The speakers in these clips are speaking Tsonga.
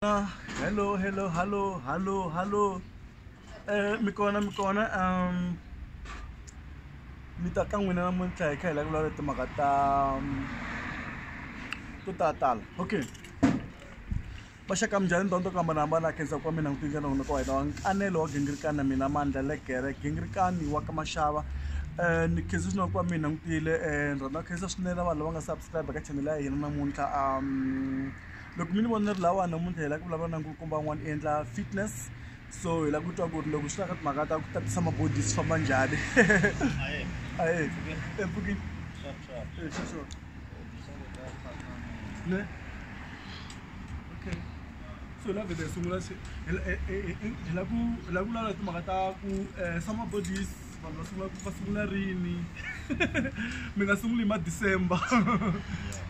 hello hello hello hello hello eh mi kona mi kona um mi ta ka n'wina namuntlha hi kha hi la ku vulavula timhaka ta um, to ta tala okay vaxaka minjhani ndhawu to ku hambanahambana khensa kwa mina n'wi tinjhana n'wina ka wena wa nkanelo wa gingirikana mina mandla legere gingirikani wa ka maxava um ni khensa swinene kwa mina n'wi tile um ni rhandza khensa swinene vanhu lava nga subscribe ka chanele ya hina namuntlha um loko mi ni vona ri lawa namuntlha hi lava ku vulavula na nkulukumba wun'wana i endla fitness so hi lava ku twa ku ri loko swi ta ka timhaka ta ku tatisa mabodi swi famba njhani ae empfukini ne okay so la vhele hi sungula se hi la ku hi la ku vulavula timhaka ta ku eh, summer bodies vanhu va sungula va sungula rini mi nga sunguli hi ma december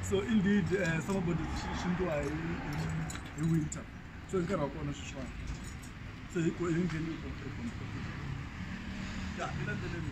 so indeed uh, eh, summer body swi ndliwa hi hi winter so hi nkarhi wa kona sweswiwani so hi ku hi ngheni hi competition ya hi landzeleni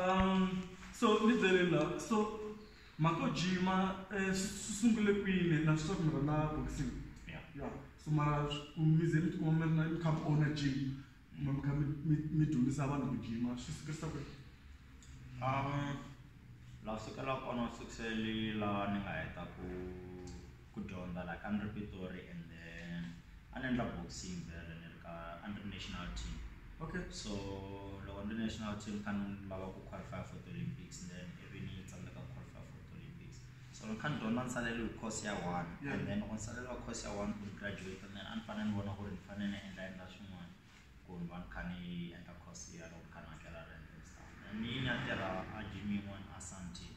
Um, so ni byele la so mako jima eh, swi swi sungule kwini na swi swa ku mi rhandza boxing Yeah. ya so mara swi- ku mi ze mi tikuma mi ri na mi kha mi owner gym kumbe mi kha mi- mi- mi dyondzisa vanhu ku jima swi sukerisa ku Um, la sukela kona sukiseli la ni nga heta ku ku dyondza la ka ni ri pitori and then a ni endla boxing vele ni ri ka a ni ri national team okay so loko ni ri national team kha ni lava ku qualify for the olympics then ivi ni tsandzeka ku qualify for the olympics so ni kha ni dyondza ni saleriwe course ya one and then loko ni saleriwa course ya one ku ni graduate then a ni fanele ni vona ku ri ni fanele ni endla endla swin'wana ku ri va ni kha ni endla course ya loko ni kha ni hakela rent and stuff and ni ni ya tirha a gym yin'wana a Sandton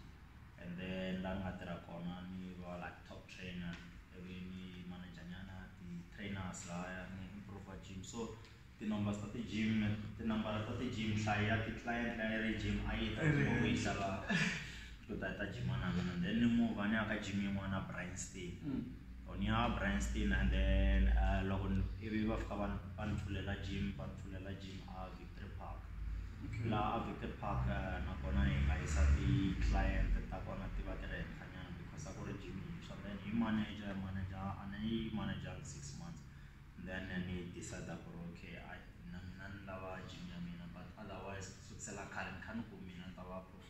and then laha ni nga tirha kona ni va like top trainer ivi ni manager nyana ti-trainers lahaya ni improv gym so ti-numbers ta ti-gym tinambara ta ti-gym nhlayo ya ti-client leyi a yi ri gym a yi ta loko yi xava. to ta ta gym na mina then ni move ni ya ka gym yin'wana na Brian Stein mm. or ni ya Brian Stein and then uh, loko ivi va fika va ni pfulela gym va ni pfulela gym a Victory Park laha a Victory Park uh, nakona hi nga yisa ti-client ta kona ti va ti ri henhlanyana because a ku ri gym yintshwa then hi manager manager a ni yi manager six months then ni decide ku ri okay na mina ni lava gym ya mina but otherwise sukusela khale ni kha ni ku mina ni ta va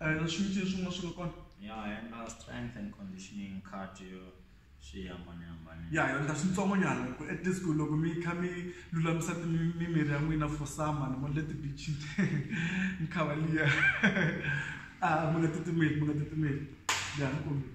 A hi na swin'withi swin'wana swi nga kona. Ya hi endla strength and conditioning cardio swi hambanahambane. Ya hi endla swintsongonyana hi ku at least ku loko mi kha mi lulamisa ti mimiri ya n'wina for summer ni vonile ti-beach-ini mi khava liya a mi nga titimeli mi nga titimeli ya ni kombela.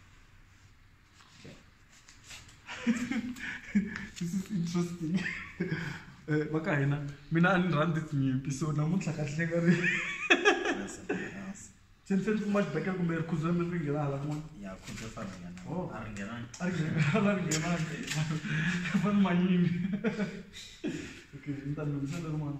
this is interesting eh, va ka hina mina a ni rhandzi tinyimpi so namuntlha kahle ka ri se ni fane ni kuma xibekela kumbe rikhuzo ra mi ri nghena hala kun'wana oh. a ri nghenangi fane manyimi okay ni ta ni lungisela rin'wana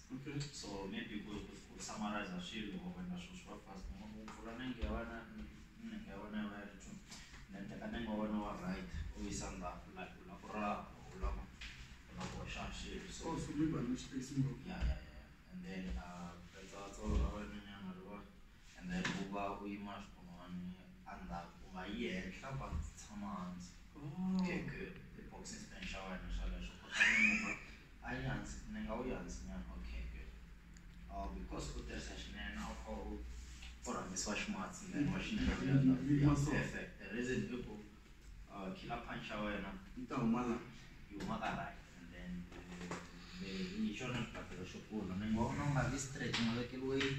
Okay. So maybe ku ku ku summarize swilo or na swilo swa fast mo ku pfula na ngiya wana na ngiya wana va ri two na teka na ngiya wana wa right u yisa ndzhaku la ku la ku ra u la ku u la ku xa swilo so Oh, so mi ba ni space mo. ya ya ya and then uh letsa tsolo ra wena nyana ri va And then u va u yima hi xikun'wani endzhaku u nga yi henhla but tshama hansi okay good tiboxing stand xa wena xa leswo kutani muva a yi hansi ni nga wu yi hansi nyana okay good uh, because u tirhisa xinene a wu kha u u rhangisiwa ximatsi then wa xinene perfect the reason i ku Uh, killer punch ya wena yi ta huma la yi huma ka right and then hi xona xibakelo xo kula mi nga vona u nga vi straight u nga vekeli weight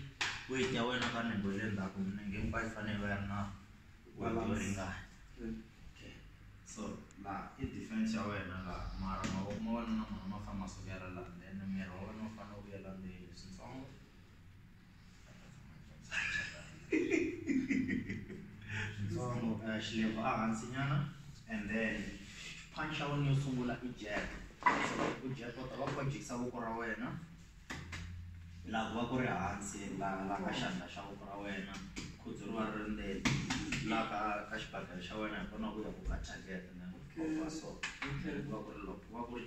weight ya wena ka ningo le ndzhaku minenge mi va yi fanele va yi ri na weight yo ringana okay so la i defense ya wena la mara mavoko ma wena na mona ma famba ma sukela la then miri wa wena u fanele u vuyela ndzeni switsongo Ntsongo, eh, xilevo a hansinyana and then punch ya wena yo sungula i jab so loko u jab u ta va kha u jikisa voko ra wena laha ku va ku ri hansi laha laha ka xandla xa voko ra wena khudzu ri va ri ri ndzeni laha ka ka xibakele xa wena hi kona ku ya ku ka target and then u va so ku va ku ri loko ku va ku ri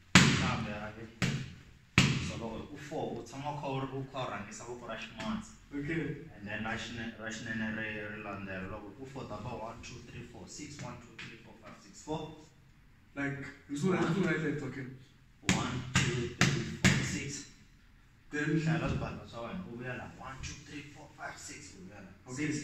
kambe a ve solo u four u tshama u kha u ri u kha u rhangisa voko ra ximatsi okay and then ra xine ra xinene ri ri landzela loko u four ta ba one two three four six one two three four five six four like hi swi rhangisa swi right left okay one two three four six then hlaya swibatla swa wena u vuya la one two three four five six u vuya la Okay. six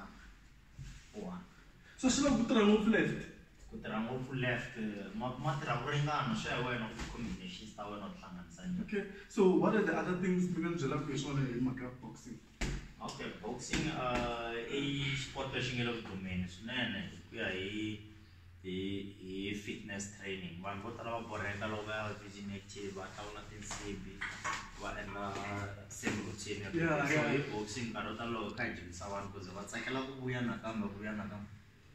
one one so swi lava ku tirha ngopfu left ku tirha ngopfu left ma ma tirha ku ringana swi ya wena ku combinations ta wena u hlanganisa njhani okay so what are the other things mi nga ni byelaka hi swona hi mhaka boxing okay boxing uh i sport lexi nge le ku dumeni swinene ku ya hi hi hi fitness training vanhu vo tala va borheka loko va ya virgin active va hlawula tinsibi va endla same routine ya Yeah, boxing. yeah. So, hi boxing nkarhi wo tala loko hi kha hi dyondzisa vanhu kuze va tsakela ku vuya nakambe va vuya nakambe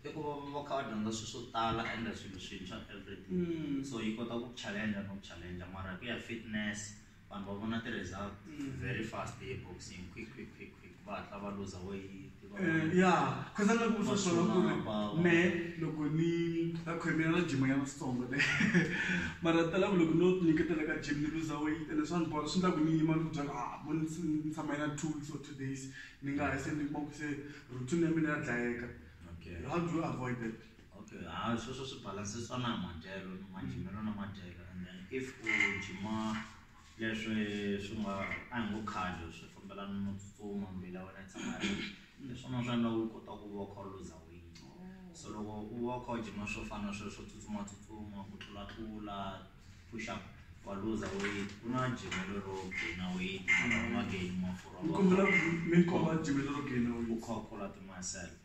i ku va va kha va dyondza swilo swo tala ende swilo swintshwa everyday Mm. so yi kota ku challenge no challenge mara ku ya fitness vanhu va vona ti-result mm. very fast eboxing quick quick quick quick va hatla va luza weyiti eh, ya khaza na ku sosola ku ri me loko ni ta khwemela na jima ya masitsongo le mara tala ku loko no nyiketela ka jim ni luza weyiti ene swa ni bola swi ndla ku ni yima ni ku byala ah mo ni tshama yina two weeks or two days ni nga ha se ni kuma ku se routine ya mina ya dlayeka how do you avoid that Okay, ha sweswo swi balansisa na madyelo ni majimelo na madyelo and then if u jima leswi swi nga a hi ngo cardio swi fambelana no tsutsuma mbila wena yi tshama ri hi swona swi endla u kota ku va u kha u luza weight so loko u va u kha u jima swo fana swilo swo tsutsumatsutsuma ku tlulatlula push up wa luza weight ku na jimelo ro gaina weight mara u nga gaini mafurha ni kombela mi komba jimelo ro gaina u weight kha u kula timasele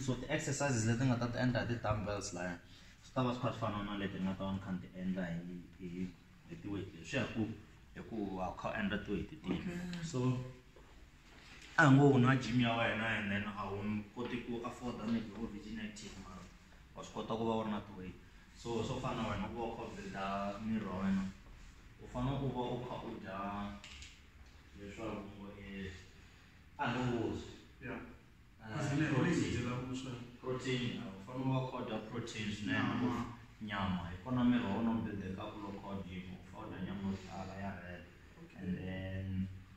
so the exercises leti nga ta ti endla hi ti-dumbbells laya swi ta va swi kha swi fana na leti ni nga ta va ni kha ni ti endla hi hi hi tiweight leswi ya ku hi ku wa kha u endla tiweight tihi so a ngo u na gym ya wena and then a wu koti ku afforda maybe u ri inactive mara wa swi kota ku va u ri na ti-weight so swo fana na wena ku va u kha u build-a miri wa wena u fanele u va u kha u dya leswaku ngo i a ni vuzwi ya kasi miri wa yi dyela vuswa protein a wu fanele u va u kha u dya protein swinene Nyama. nyama hi kona miri wa wena u build-ekaku loko u kha u gym u fanele u dya nyama yo tala ya red and then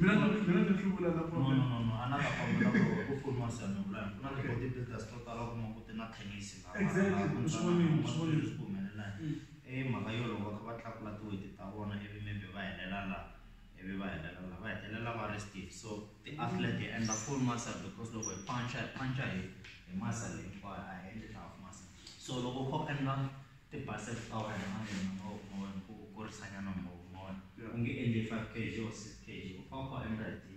Mina no, mina no hluvula na No, no, problem. no, no. A na ta kombela ku ri ku pfuniwa Siyame Vulayi. Ku na Okay. ti-body builders to tala u kuma ku ti na tennis laha. Exactly. laha ku U swi vonile, u swi ntwanano vonile. leswi ku humelelaka. Mm. I mhaka yo loko va kha va tlakula ti-weight ta vona ivi maybe va helela laha, ivi va helela laha, va hetelela va ri stiff. So ti-athlete hi endla full muscle because loko hi punch-a, hi punch-a hi hi muscle hinkwayo, a hi endli half muscle. So loko u kha u endla. ti base flour and onion u nga wu onhi ku u kurisa nyana u nga wu onhi u nge endli five K_G or six K_G u fane u kha u endla hi ti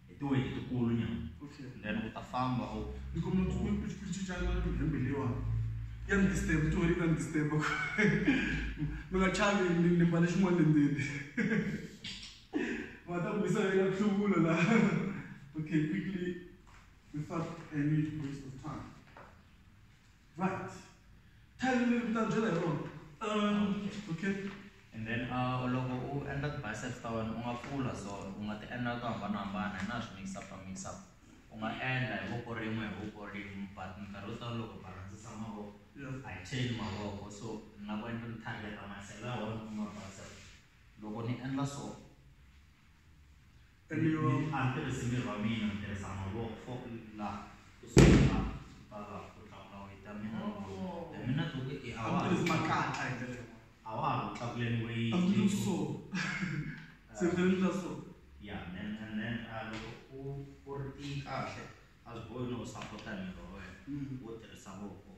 hi ti weyiti ti kulu nyana then u ta famba u ni ku mi ku ku ku ku cinca na ku hembe lewa ya mi disturb ti weyiti ta mi disturb ku mi nga chavi ni ni mbale xin'wana le ndzeni va ta ku bisa ya ku hluvula la okay quickly without any waste of time Right. Tell me a little bit about Um, okay. And then uh, loko u endla ti-biceps ta wena u nga pfula so u nga ti endla to hambanahambana hi na swi mix up mix up u nga endla hi voko rin'we hi voko rin'we but minkarhi yo tala loko balandzisa mavoko a yi cheli mavoko so ni nga ku endla ni targeta masela ya wena ku nga bicep loko ni endla so Ni a ni tirhisi miri wa mina ni tirhisa mavoko fo la ku sungula ta la ku tlakula weight ya mina the minute u ku i a wa ha tirhisi makatla hi ndlela yin'wana a wa ha ku tlakuleni weight a ku tirhisi so se ni fanele ni endla so ya then and then loko u u ri tiyi kahle a swi bohi no u sapota miri wa wena wo tirhisa voko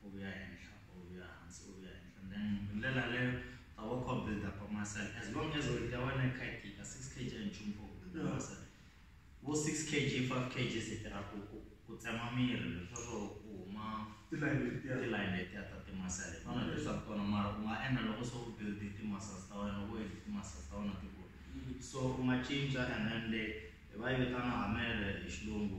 u vuya henhla u vuya hansi u vuya henhla then hi ndlela leyo ta va kha build up muscle as long as weight ya wena yi kha yi tika six kg a nchumu for build up muscle vo six kg five kg se tirha ku ku ku tsema miri leswaku ku huma tilayini letiya tilayini letiya ta timasele hi tona leswi swaku tona mara u nga endla loko se u build ti-muscles ta wena loko u hete ti-muscles ta wena ti kula so u nga cinca and then le hi va yi vitana hamele hi xilungu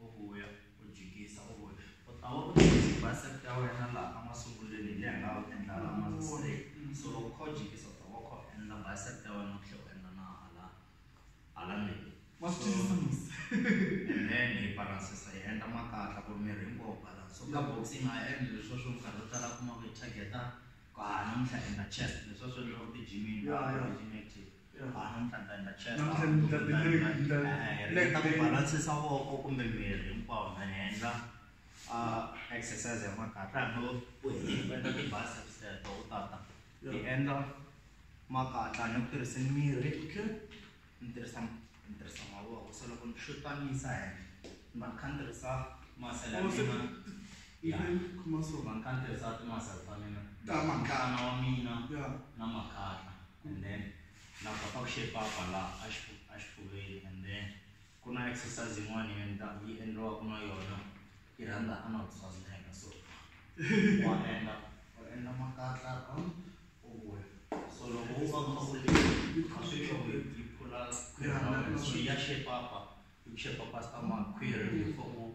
U vuya, u jikisa, u vuya. U ta va u teke ti-bicep ta wena laha emasungulweni hi laha u nga wu endla laha ma straight. So loko u kha u jikisa u ta va u kha u endla bicep ta wena u tlhela u endla na hala hala ndzeni. Wa swi twisisa musa? And then hi balance-sa hi endla makatla ku ri miri hinkwawo wu balance. So ka boxing a hi endli leswiya swo minkarhi yo tala u kuma ku hi target-a ku haha namuntlha hi endla chest, leswiya swi endliwaka ti-gym-ini, a hi gym active. balansa voko kumbe miri hinkwawo na endla exercise ya makatla hambi u endla ti-biceps teto u tata hi endla makatla ni ku tirhisa miri ni tirhisa ni tirhisa mavoko se loko ni xutanisa henhla ni va ni kha ni tirhisa masela ya mina va ni kha ni tirhisa timasela ta mina ta makana wa mina na makatla and then na kota ku shape up la axifuveni and then ku na exercise yin'wana yi endla yi endliwaka na yona yi rhandza anal swasneka so wa endla u endla makatla around u vuya so loko u va kha u le a swi loko yi phula khwiri ra wena so ya shape up yi shape up stomach khwiri before u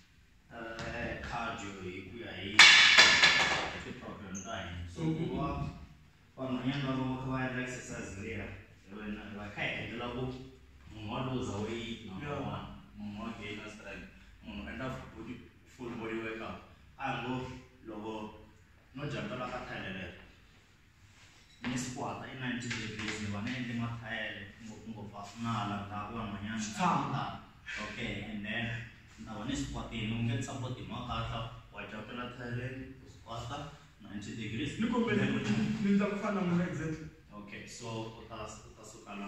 cardio hi ku ya hi ti-program ta hina so ku va vanhwanyana va va kha va endla exercise leya wena va kha hi endlela ku munhu wa luza weight number one munhu wa gaina strength munhu endla body full body workout a ngo loko no jampela ka thalela ni squat-a i ninety degrees ni va ni endle mathayele ngopfungopfu a swi na hala ndhaku van'wanyana tshama okay and then ni ta va ni squat-ini u nge ni support hi makatla wa jokela thayeleni u squat-a ninety degrees ni kombela ni ndla ku fana na n'wina exactly okay so u ta u ta suka la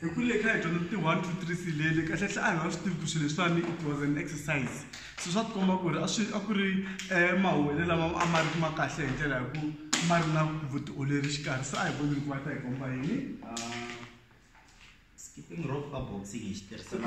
hi ku le kha hi dyondza ti one two three silele kahle hle a hi nga swi tivi ku swilo leswiwani it was an exercise so swa tikomba ku ri a swi a ku ri um mahowelo lama a ma ri ma kahle hi ndlela hi ku ma ri na vutiolori xikarhi se a hi vonile ku va ta hi komba yini skipping rope ka boxing hi xi tirhisela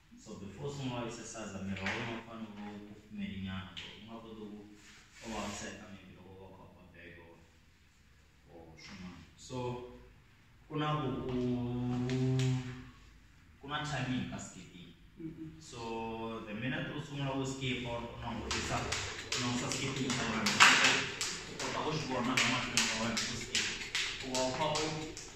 So before u sungula exercise miri wa wena wu fanele wu ku pfumelinyana ku ri u nga koti ku u vaviseka maybe loko va kha u ba bag or or swin'wana so ku na ku ku ku na timing ka skipping so the minute u sungula ku skip or u langutisa u langutisa skipping xa wena u kota ku swi vona na mahlweni ka wena ku skip u va u kha u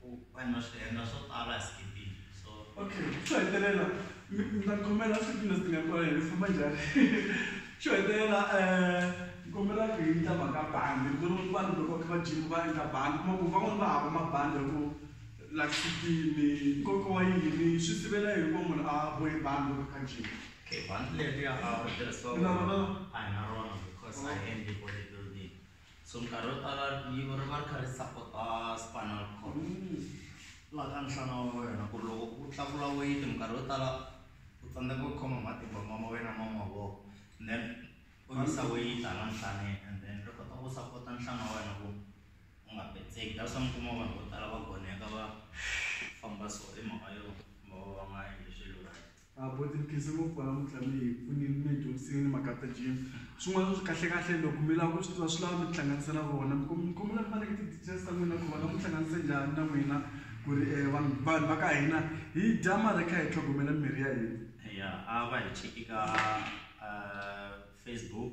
ku vanhu va swi endla swo tala hi skipile so okay xo hetelela mi mi ta khomela siku leswi ti nga kona hi famba njhani xo hetelela um kombela ku hi endla mhaka bandi ku ri vanhu loko va kha va jima va endla bandi kuma ku van'wani va hava mabandi ya ku la sikini nkoka wa yini swi sivela yini ku munhu a bohi bandi loko kha jima okay bandi leriya a ri tirhisiwa a hi na rona because a hi endli bodybuilding So nkarhi wo tala rivilo ri va ri kha ri sapota spinal cord laha ka nhlana wa wena ku ri loko u tlakula weyiti minkarhi yo tala u tsandzeka ku khoma matimba ma ma wena ma mavoko and then u yisa weyiti hala nhlaneni and then ri kota ku sapota nhlana wa wena ku u nga petseki that's why mi kuma vanhu vo tala va goneka va famba so hi mhaka yo va va va nga endli swilo right. A bo tiphikisi ngopfu wena mutlami hi pfunile mi hi dyondzisile ni mhaka ta gym swin'wana swi kahle kahle loko mi lava ku swi tiva swi lava mi tihlanganisa na vona mi mi kombela mi va nyika ti-details ta n'wina ku va nga mi hlanganise njhani na n'wina ku ri um vanhu vanhu va ka hina hi dya mara hi kha hi tlhogomela mirhi ya hina ya a va hi cheki ka um facebook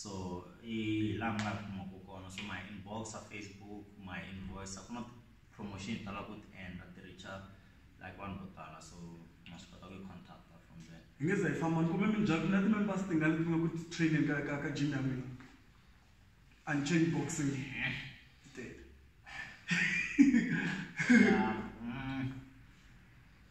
so hi laha mi nga kumaka kona so my inbox a facebook my invoice a ku na promotion hi tala ku ti endla ti richa like vanhu vo tala so ma swi kota ku yi contacta from there hi nge za hi famba ni kumbe minjhani na ti-members tingani leti nga ku ti-training ka ka ka gym ya n'wina unchain boxing titele Yeah, mm,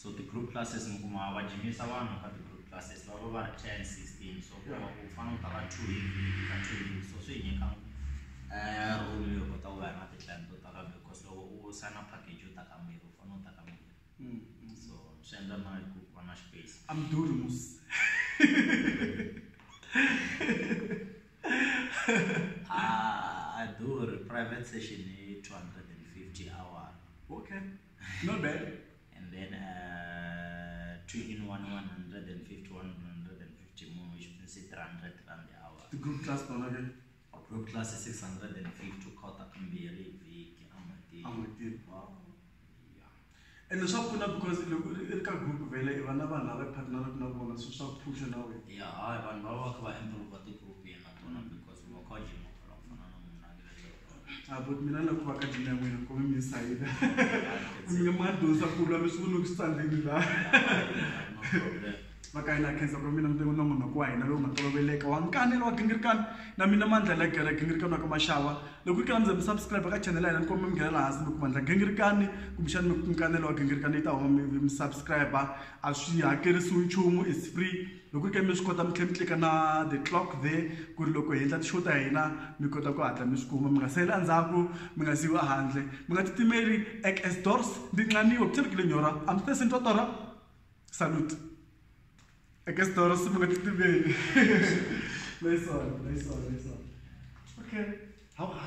so ti-group classes mi kuma va jimisa vanhu ka ti-group classes va va va ri ten sixteen so ku hava ku fana u ta va two hi vhiki ka two hi vhiki so swi hi nyika um room yo kota ku va na ti-client to tala because loko u sign-a package yo ta kambirhi u fanele u ta kambirhi Mm, mm. so swi endla na hi ku va na space I'm doing this. a a durhi private session hi two hundred and fifty hour Okay. Not bad. and then uh, two in one 150 150 more which means 300 rand the hour The group class one again. group class is 650 kota kamberi viki amati I'm with you. wow yeah And swa pfuna because loko ri ri ka group vele i vana vanhu lava partneraka na vona so swa phusha na wena. yeah hayi vanhu va va kha va improve ti group yena tona because va kha va jima Abut mina na ku va ka dina n'wina ku mi sayida. Mi nga ma dosa ku lwa mi swi vona ku standing la. Maka ina khensa ku mina mutengwa na munhu wa hina lowu nga toloveleka wa nkanelo wa gingirikani na mina mandla la gere gingirikani wa ka maxava loko ku kala mi ze mi subscribe ka channel ya hina ni komi mi nghenela hansi mi kuma ndla gingirikani kumbexani mi nkanelo wa gingirikani yi ta huma mi mi subscribe a swi hakerisiwi nchumu is free Loko hi karhi mi swi kota mi tlhela mi tlilika na the clock there ku ri loko hi endla ti-show ta hina mi kota ku hatla mi swi kuma mi nga sali endzhaku mi nga siyiwi ehandle mi nga titimeli ek as doors ndi nqaniwe ku tshembekile nyora a mi tese ni twa torha salute ek as doors mi nga titimeli nice one nice one nice one okay how, how